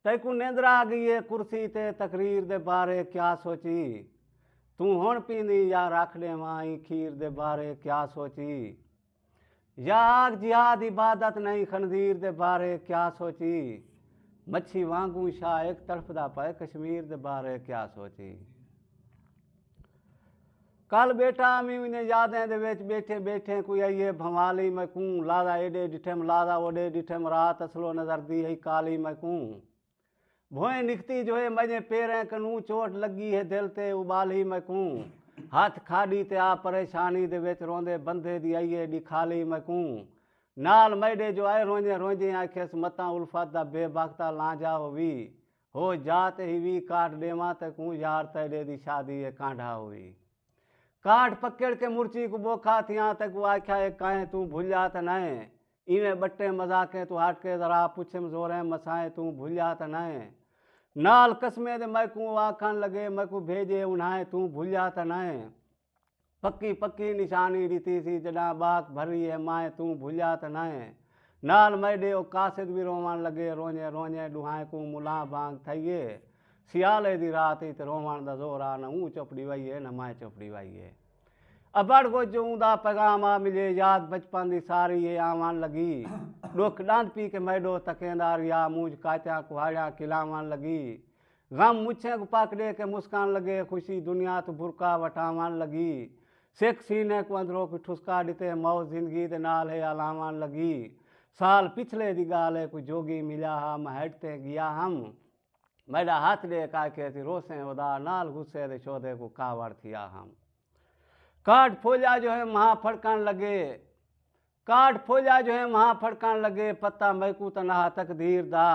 تیکوں نیندرا آ گئی اے کرسی تے تقریر دے بارے کیا سوچی توں ہن پیندیں یا رکھ ڈیواں ایں کھیر دے بارے کیا سوچی یا آگ جہاد عبادت نئیں خنزیر دے بارے کیا سوچی مچھی وانگوں شاہ ایک تڑفدا پئے کشمیر دے بارے کیا سوچی کل بیٹا امی انھیں یادیں دے وچ بیٹھے بیٹھے کوئی ائیے بھنوالی میں کوں لازا ایڈے ڈٹھم لازا اوڈے ڈٹھم رات اسلو نظر دی ہئی کالی میں کوں بھوئیں نکھتی جو ہے مجھیں پیریں کنوں چوٹ لگی ہے دل تے ابالی میں کوں ہتھ کھاڈی تے آ پریشانی دے وچ روندے بندھے دی ائیے ڈکھالی میں کوں نال میڈے جو ائے رونجیں رونجیں آکھیس متاں الفت دا بے بختا لانجھا ہووی ہو جا تے ہی وی کاٹ ڈیواں تے کوں یار تیڈے دی شادی اے کانڈھا ہوئی کاٹ پکڑ کے مرچی کوں بوکھا تھیاں تے کوں آکھیا اے کائیں توں بھلیا تے نئیں ایویں بٹیں مذاقیں توں ہٹ کے ذرا پچھم زوریں مسائیں توں بھلیا تے نئیں نال قسمیں دے میکوں او آکھن لگے میکوں بھیجے انہائیں توں بھلیا تے نئیں۔ پکی پکی نشانی ڈتی سی جڈاں باک بھری ہے مائیں توں بھلیا تاں نائیں ہے نال میڈے او قاصد وی روون لگے رونجیں رونجیں ڈوہائیں کوں ملاں بانگ تھئی ہے سیالے دی رات ہئی تے روون دا زور آ نہ اوں چپ ڈیوائی ہے نہ مائیں چپ ڈیوائی ہے ابھڑ گج اوں دا پیغام آ ملے یاد بچپن دی ساری ہے آون لگی ڈکھ ڈاند پی کے میڈو تکیندا رہیا مونجھ کاتیاں کوہاڑیاں کلاون لگی غم مچھیں کوں پک ڈے کے مسکان لگے خوشی دنیا توں برقع وٹاون لگی سکھ سینے کوں اندروں کوئی ٹھسکا ڈتے موت زندگی دے نال ہے الاون لگی سال پچھلے دی گال ہے کوئی جوگی ملیا ہا مہڈ تیں گیا ہم میڈا ہتھ ڈے کے آکھے اسی روسیں ادا نال غصے دے شودے کوں کاوڑ تھیا ہم کاٹ پھولیا جو ہے مہا پھڑکن لگے کاٹ پھولیا جو ہیں وہاں پھڑکن لگے پتہ میکوں تنہا تقدیر دا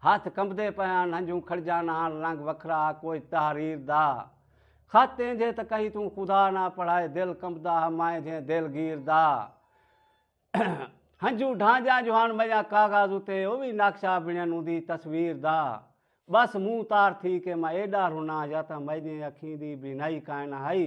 ہتھ کمبدے پئے ہن ہنجوں کھڑجان ہن رنگ وکھرا کوئی تحریر دا خط اینجھے تاں کہیں توں خدا نہ پڑھائے دل کمبدا ہا مائیں جھیں دل گیر دا ہنجوں ڈھانجاں جو ہن میاں کاغذ اتے او وی نقشہ بنن اوندی تصویر دا بس منہ تار تھی کے میں ایڈا رناں یا تاں میڈیں اکھیں دی بینائی کائناں ہئی